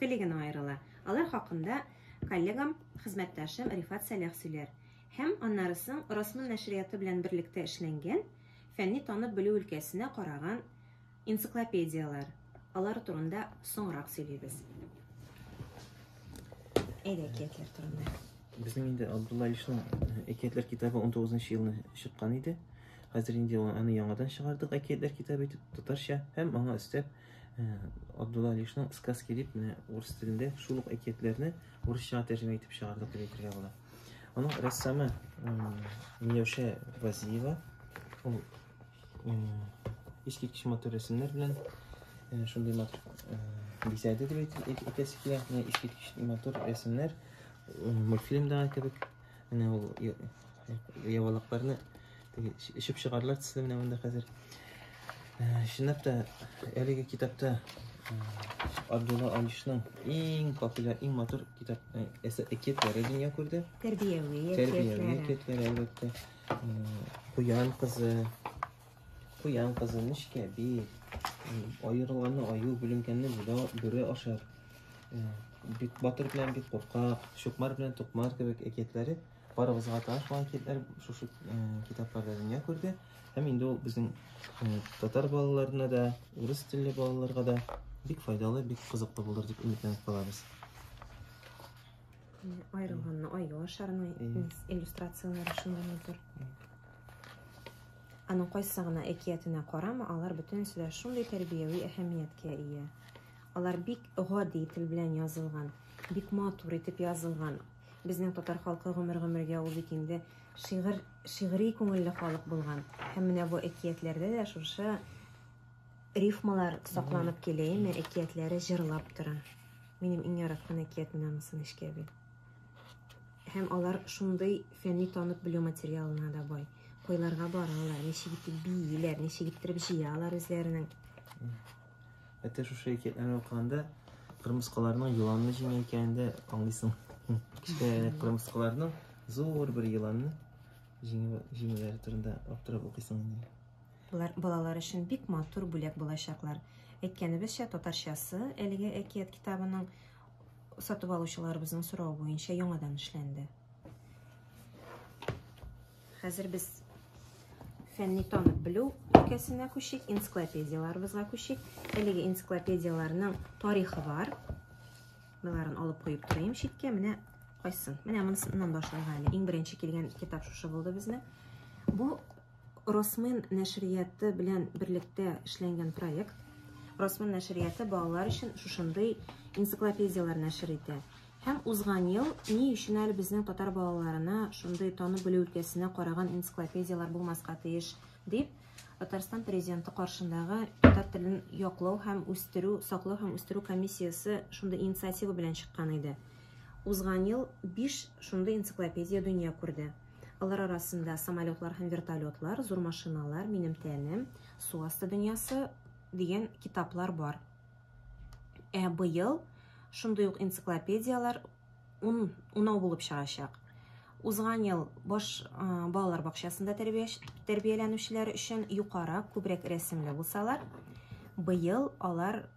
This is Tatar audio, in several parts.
теле генә аерыла. Алар хакында коллегам, хезмәттәшем Рифат Сәлах сөйләр. Һәм аннары соң Росмн нәшрияты белән берлектә эшләнгән, фәнни танып белү өлкәсенә караган энциклопедияләр. Алар турында соңрак сөйлибез. Әйдә, әкиятләр турында. Безнең инде Абдулла Ильичның әкиятләр китабы 19 елны чыккан иде. Хәзер инде аны яңадан чыгардык әкиятләр китабы итеп татарча һәм аңа өстәп Абдулла Алишның сказки дип менә урыс телендә шул ук әкиятләрне урысчага тәрҗемә итеп чыгардык дип әйтергә була. Аның рәссамы Миләүшә Вазиева. Ул искиткеч матур рәсемнәр белән шундый матур бизәде дип әйтәсе килә. Искиткеч матур рәсемнәр мультфильмдагы кебек. Менә ул явалакларны эчеп чыгарлар төсле менә монда хәзер. Э, чынлап та әлеге китапта э, Абдулла Алишның иң популяр, иң матур китап э, әсә әкиятләре дөнья күрде. Тәрбияви әкиятләре. Тәрбияви әкиятләре әлбәттә. Куян кызы, Куян кызы, нечкә бил, аерылганны аю, бүленгәнне бүлә, бүре ашар. Э, бик батыр белән бик куркак, чукмар белән тукмар кебек әкиятләре барыбызга таныш булган әкиятләр шушы э, китапларда дөнья күрде. Һәм инде ул безнең э, татар балаларына да, урыс телле балаларга да бик файдалы, бик кызыклы булыр дип өметләнеп калабыз. Аерылганны аю ашарның иллюстрацияләре шунда тор. Аның кайсы гына әкиятенә карама, алар бөтенесе дә шундый тәрбияви әһәмияткә ия. Алар бик гади тел белән язылган, бик матур итеп язылган. Безнең татар халкы гомер-гомергә ул бит инде шигырь, шигъри күңелле халык булган. Һәм менә бу әкиятләрдә дә шушы рифмалар сакланып килә, әкиятләре җырлап тора. Минем иң яраткан әкиятемнән Муса Нечкәби. Һәм алар шундый фәнни танып белү материалына да бай. Койларга баралар, ничек итеп бииләр, ничек иттереп җыялар үзләренең. Әтә шушы әкиятләрне укыганда кырмыскаларның еланны җиңә икәнен дә аңлыйсың. Кечкенә кырмыскаларның зур бер еланны җиңүләре турында аптырап укыйсың инде. Болар балалар өчен бик матур бүләк булачаклар. Әйткәнебезчә, татарчасы әлеге әкият китабының Сатып алучыларыбызның сорау буенча яңадан эшләнде. Хәзер без фәнни танып белү өлкәсенә күчик, энциклопедияларыбызга күчик. Әлеге энциклопедияләрнең тарихы бар. Боларын алып куеп торыйм читкә. Менә кайсын. Менә монысыннан башларга әле. Иң беренче килгән китап шушы булды безнең. Бу Росмен нәшрияты белән берлектә эшләнгән проект. Росмен нәшрияты балалар өчен шушындый энциклопедияләр нәшер итә. Һәм узган ел ни өчен әле безнең татар балаларына шундый танып белү өлкәсенә караган энциклопедияләр булмаска тиеш, дип Татарстан президенты каршындагы татар телен яклау һәм үстерү, саклау һәм үстерү комиссиясе шундый инициатива белән чыккан иде. Узган ел 5 шундый энциклопедия дөнья күрде. Алар арасында самолетлар һәм вертолетлар, зур машиналар, минем тәнем, су асты дөньясы дигән китаплар бар. Ә быел шундый ук энциклопедияләр ун унау булып чыгачак. Узган ел баш балалар бакчасында тәрбияләнүчеләр өчен юкара күбрәк рәсемле булсалар, быел алар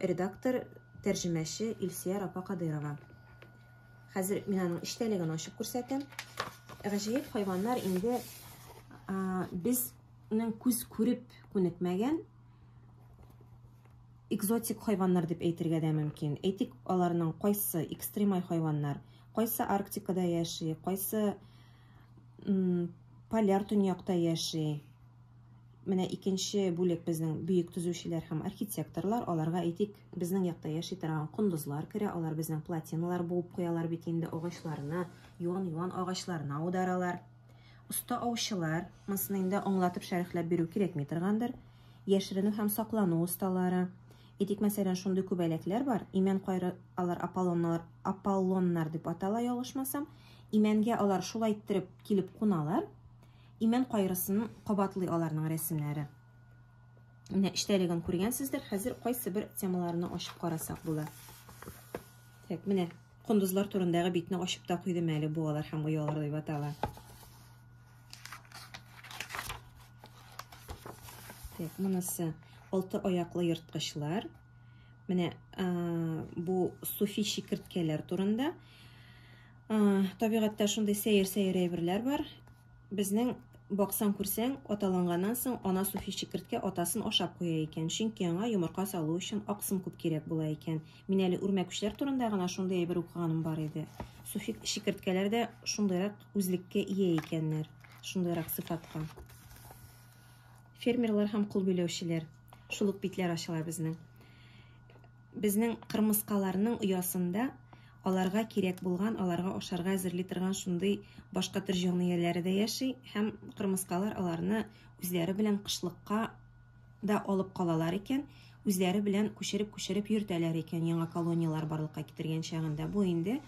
Редактор, тәрҗемәче Илсияр апа Кадыйрова. Хәзер мин аның эчтәлеген ачып күрсәтәм. Гаҗәеп хайваннар инде безнең күз күреп күнекмәгән экзотик хайваннар дип әйтергә дә мөмкин. Әйтик, аларның кайсы экстремаль хайваннар, кайсы Арктикада яши, кайсы поляр төньякта яши. Менә икенче бүлек безнең бөек төзүчеләр һәм архитекторлар. Аларга әйтик, безнең якта яши торган кондызлар керә. Алар безнең платиналар буып куялар бит инде, агачларны, юан-юан агачларны аударалар. Оста аучылар, монысын инде аңлатып шәрехләп бирү кирәкми торгандыр. Яшеренү һәм саклану осталары. Әйтик, мәсәлән, шундый күбәләкләр бар. Имән кайры алар аполлоннар, аполлоннар дип атала, ялгышмасам. Имәнгә алар шулай иттереп килеп куналар. Имән кайрысын кабатлый аларның рәсемнәре. Менә эчтәлеген күргәнсездер. Хәзер кайсы бер темаларны ачып карасак була. Так, менә кондызлар турындагы битне ачып та куйдым әле бу алар һәм оялар дип атала. Так, монысы алты аяклы ерткычлар. Менә бу суфи шикерткәләр турында. Табигатьтә шундый сәер-сәер әйберләр бар. Безнең баксаң күрсәң, аталанганнан соң ана суфи чикерткә атасын ашап куя икән, чөнки аңа йомырка салу өчен аксым күп кирәк була икән. Мин әле үрмәкүчләр турында гына шундый әйбер укыганым бар иде. Суфи чикерткәләр дә шундыйрак үзлеккә ия икәннәр, шундыйрак сыйфатка. Фермерлар һәм кул биләүчеләр, шул ук битләр ачыла безнең. Безнең кырмыскаларның оясында аларга кирәк булган, аларга ашарга әзерли торган шундый башка төр җанлыяләре дә яши һәм кырмыскалар аларны үзләре белән кышлыкка да алып калалар икән, үзләре белән күчереп-күчереп йөртәләр икән яңа колонияләр барлыкка китергән чагында. Бу инде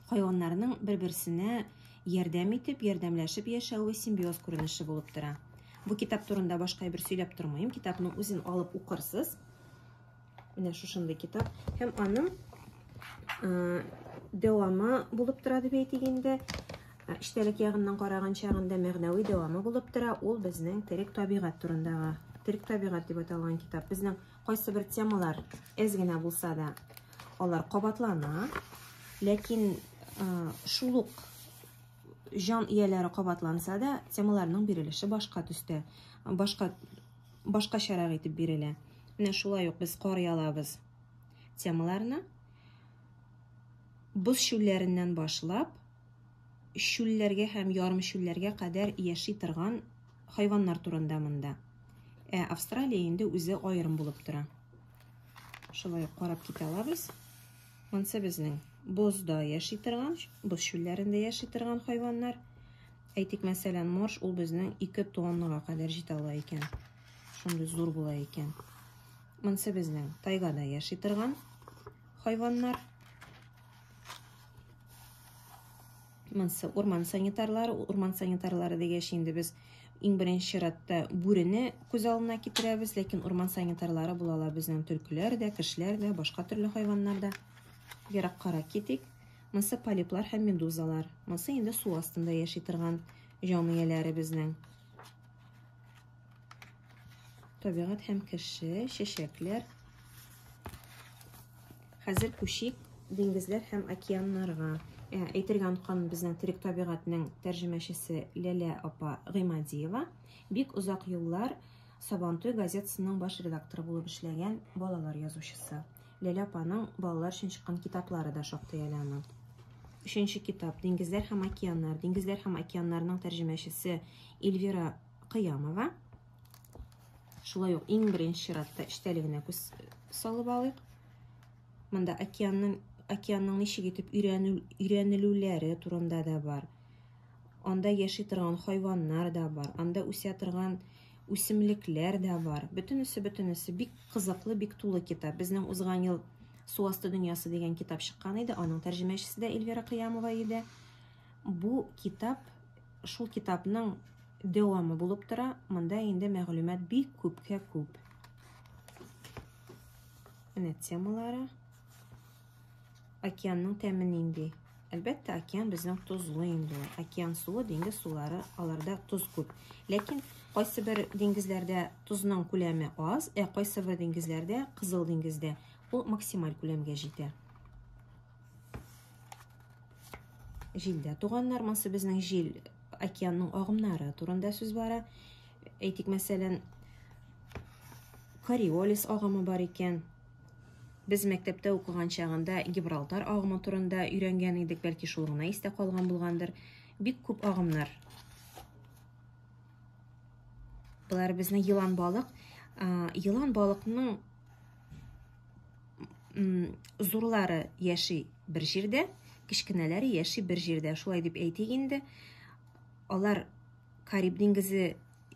хайваннарның бер-берсенә ярдәм итеп, ярдәмләшеп яшәве симбиоз күренеше булып тора. Бу китап турында башка әйбер сөйләп тормыйм, китапның үзен алып укырсыз. Менә шушындый китап. Һәм аның ә, дәвамы булып тора дип әйтик инде. Эчтәлек ягыннан караган чагында мәгънәви дәвамы булып тора. Ул безнең терек табигать турындагы, терек табигать дип аталган китап. Безнең кайсы бер темалар әз генә булса да, алар кабатлана. Ләкин ә, шул ук җан ияләре кабатланса да, темаларның бирелеше башка төстә, башка башкачарак итеп бирелә. Менә шулай ук без кар ялабыз темаларны боз шүлләреннән башлап шүлләргә һәм ярым шүлләргә кадәр яши торган хайваннар турында монда. Ә Австралия инде үзе аерым булып тора. Шулай карап китә алабыз. Монсы безнең бозда яши торган, боз шүлләрендә яши торган хайваннар. Әйтик, мәсәлән, морж ул безнең 2 тоннага кадәр җитә ала икән. Шундый зур була икән. Монсы безнең тайгада яши торган хайваннар. Монсы урман санитарлары, урман санитарлары дигәч инде без иң беренче чиратта бүрене күз алдына китерәбез, ләкин урман санитарлары була ала безнең төлкеләр дә, кешеләр дә, башка төрле хайваннар да. Ераккарак китик. Монсы полиплар һәм медузалар. Монсы инде су астында яши торган җаныяләре безнең. Табигать һәм кеше, чәчәкләр. Хәзер күчик диңгезләр һәм океаннарга. Ә, әйтергә оныткан безнең терек табигатьнең тәрҗемәчесе Ләлә апа Гыймадиева бик озак еллар Сабантуй газетасының баш редакторы булып эшләгән балалар язучысы. Ләлә апаның балалар өчен чыккан китаплары да шактый әле аның. Өченче китап Диңгезләр һәм океаннар. Диңгезләр һәм океаннарның тәрҗемәчесе Эльвира Кыямова. Шулай ук иң беренче чиратта эчтәлегенә күз салып алыйк. Монда океанның океанның ничек итеп өйрәнелүләре турында да бар. Анда яши торган хайваннар да бар. Анда үсә торган үсемлекләр дә бар. Бөтенесе, бөтенесе бик кызыклы, бик тулы китап. Безнең узган ел Су асты дөньясы дигән китап чыккан иде, аның тәрҗемәчесе дә Эльвира Кыямова иде. Бу китап шул китапның дәвамы булып тора. Монда инде мәгълүмат бик күпкә күп. Менә темалары. Океанның тәме нинди? Әлбәттә, океан безнең тозлы инде. Океан суы, диңгез сулары, аларда тоз күп. Ләкин кайсы бер диңгезләрдә тозның күләме аз, ә кайсы бер диңгезләрдә, Кызыл диңгездә, ул максималь күләмгә җитә. Җилдә туган нормасы безнең җил океанның агымнары турында сүз бара. Әйтик, мәсәлән, Кориолис агымы бар икән, Без мәктәптә укыган чагында Гибралтар агымы турында өйрәнгән идек, бәлки шул гына истә калган булгандыр. Бик күп агымнар. Болар безне елан балык. Елан балыкның зурлары яши бер җирдә, кечкенәләре яши бер җирдә. Шулай дип әйтик инде. Алар Кариб диңгезе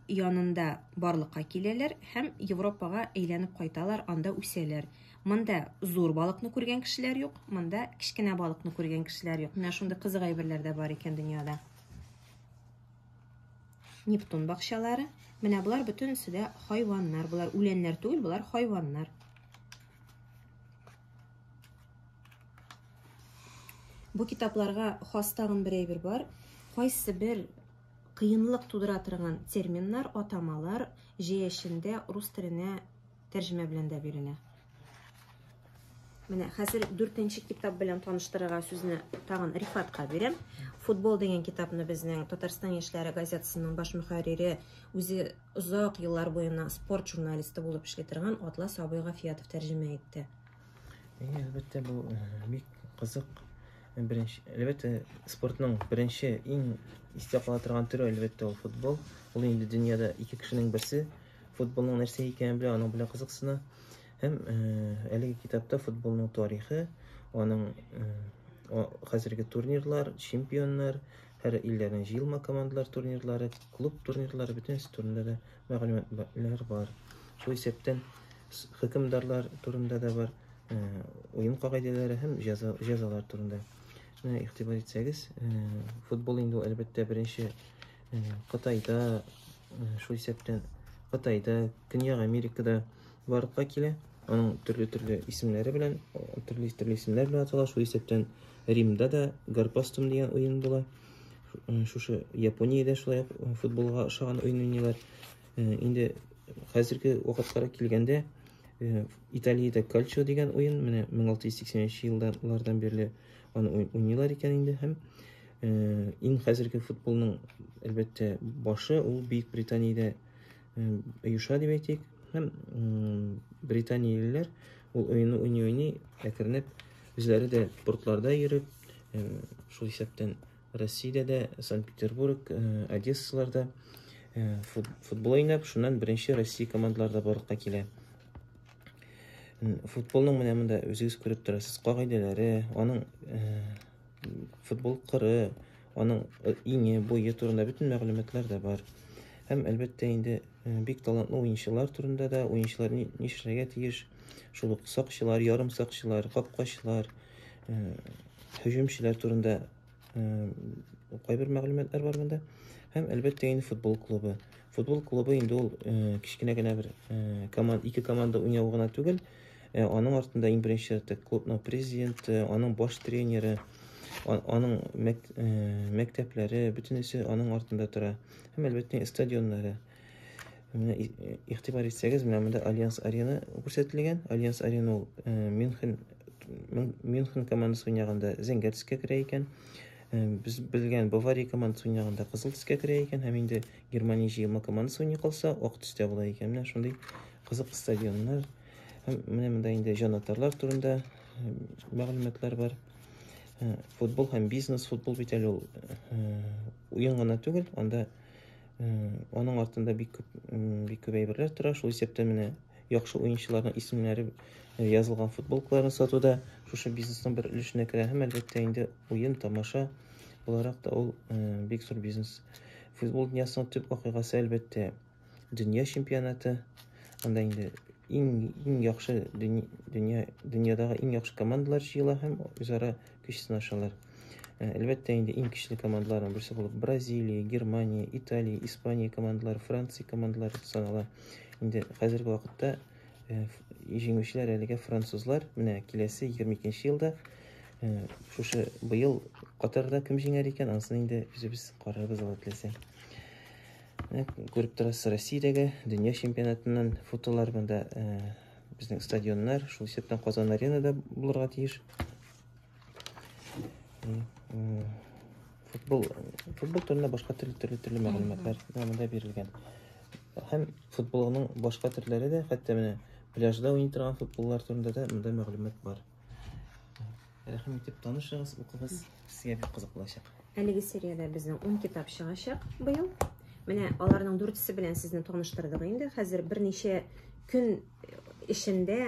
янында барлыкка киләләр һәм Европага әйләнеп кайталар, анда үсәләр. Монда зур балыкны күргән кешеләр юк, монда кечкенә балыкны күргән кешеләр юк. Менә шундый кызык әйберләр дә бар икән дөньяда. Нептун бакчалары. Менә болар бөтенесе дә хайваннар. Болар үләннәр түгел, болар хайваннар. Бу китапларга хас тагын бер әйбер бар. Кайсы бер кыенлык тудыра торган терминнар, атамалар җәяшендә рус теленә тәрҗемә белән дә бирелә. Менә хәзер дүртенче китап белән таныштырырга сүзне тагын Рифатка бирәм. Футбол дигән китапны безнең Татарстан яшьләре газетасының баш мөхәррире, үзе озак еллар буена спорт журналисты булып эшли торган Атлас абый Гафиятов тәрҗемә итте. Әйе, әлбәттә, бу бик кызык. Беренче, әлбәттә, спортның беренче иң истә кала торган төре, әлбәттә, ул футбол. Ул инде дөньяда ике кешенең берсе футболның нәрсә икәнен белә, аның белән кызыксына. Һәм әлеге китапта футболның тарихы, аның хәзерге турнирлар, чемпионнар, һәр илләрнең җыелма командалар турнирлары, клуб турнирлары бөтенесе турында да мәгълүматлар бар. Шул исәптән хөкемдарлар турында да бар, уен кагыйдәләре һәм җәзалар турында. Менә игътибар итсәгез, футбол инде әлбәттә беренче Кытайда, шул исәптән Кытайда, Көньяк Америкада барлыкка килә. Аның төрле-төрле исемнәре белән, төрле-төрле исемнәр белән атала. Шул исәптән Римда да Гарпастум дигән уен була. Шушы Япониядә шулай футболга ошаган уен уйныйлар. Инде хәзерге вакытларга килгәндә, Италиядә кальчо дигән уен, менә 1683 еллардан бирле аны уйныйлар икән инде һәм иң хәзерге футболның әлбәттә башы ул Бөек Британиядә оеша дип әйтик. Һәм британиялеләр ул уенны уйный-уйный әкренеп үзләре дә портларда йөреп, шул исәптән Россиядә дә, Санкт-Петербург, э, Одессаларда э, футбол уйнап, шуннан беренче Россия командалары да барлыкка килә. Футболның менә монда үзегез күреп торасыз, кагыйдәләре, аның э, футбол кыры, аның иңе, буе турында бөтен мәгълүматлар да бар. Һәм әлбәттә инде бик талантлы уенчылар турында да, уенчылар нишләргә тиеш, шул ук сакчылар, ярым сакчылар, капкачылар, һөҗүмчеләр турында кайбер мәгълүматлар бар монда. Һәм әлбәттә инде футбол клубы. Футбол клубы инде ул кечкенә генә бер команда, ике команда уйнау гына түгел. Аның артында иң беренче чиратта клубның президенты, аның баш тренеры, аның мәктәпләре, бөтенесе аның артында тора. Һәм әлбәттә стадионнары. Менә игътибар итсәгез, менә монда Альянс Арена күрсәтелгән. Альянс Арена ул э, Мюнхен Мюнхен командасы уйнаганда зәңгәр төскә керә икән. Э, без белгән Бавария командасы уйнаганда кызыл төскә керә икән һәм инде Германия җыелма командасы уйный калса, ак төстә була икән. Менә шундый кызык стадионнар. Һәм менә монда инде җанатарлар турында э, мәгълүматлар бар. Футбол һәм бизнес, футбол бит әле ул уен гына түгел, анда Аның артында бик күп бик күп әйберләр тора. Шул исәптән менә яхшы уенчыларның исемнәре э, язылган футболкаларны сатуда шушы бизнесның бер өлешенә керә һәм әлбәттә инде уен, тамаша буларак та ул э, бик зур бизнес. Футбол дөньясының төп вакыйгасы әлбәттә дөнья чемпионаты. Анда инде иң иң яхшы дөнья дөньядагы иң яхшы командалар җыела һәм үзара көч сынашалар. Э, әлбәттә инде иң көчле командаларның берсе булып Бразилия, Германия, Италия, Испания командалары, Франция командалары санала. Инде хәзерге вакытта э, җиңүчеләр әлегә французлар. Менә киләсе 22 елда э, шушы быел Катарда кем җиңәр икән, ансын инде үзебез карарбыз алла теләсә. Күреп торасыз, Россиядәге дөнья чемпионатыннан фотолар монда Безнең стадионнар шул исәптән Казан аренада булырга тиеш. Футбол футбол турында башка төрле төрле төрле мәгълүматлар монда бирелгән. Һәм футболның башка төрләре дә, хәтта менә пляжда уйный торган футболлар турында да монда мәгълүмат бар. Рәхим итеп танышыгыз, укыгыз. Сезгә бик кызык булачак. Әлеге сериядә безнең 10 китап чыгачак быел. Менә аларның дүртесе белән сезне таныштырдык инде. Хәзер берничә көн эчендә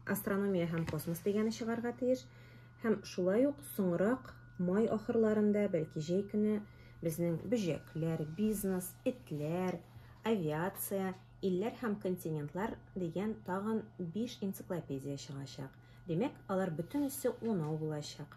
астрономия һәм космос дигәне чыгарга тиеш. Һәм шулай ук соңрак май ахырларында, бәлки җәй көне безнең бөҗәкләр, бизнес, этләр, авиация, илләр һәм континентлар дигән тагын 5 энциклопедия чыгачак. Димәк, алар бөтенесе унау булачак.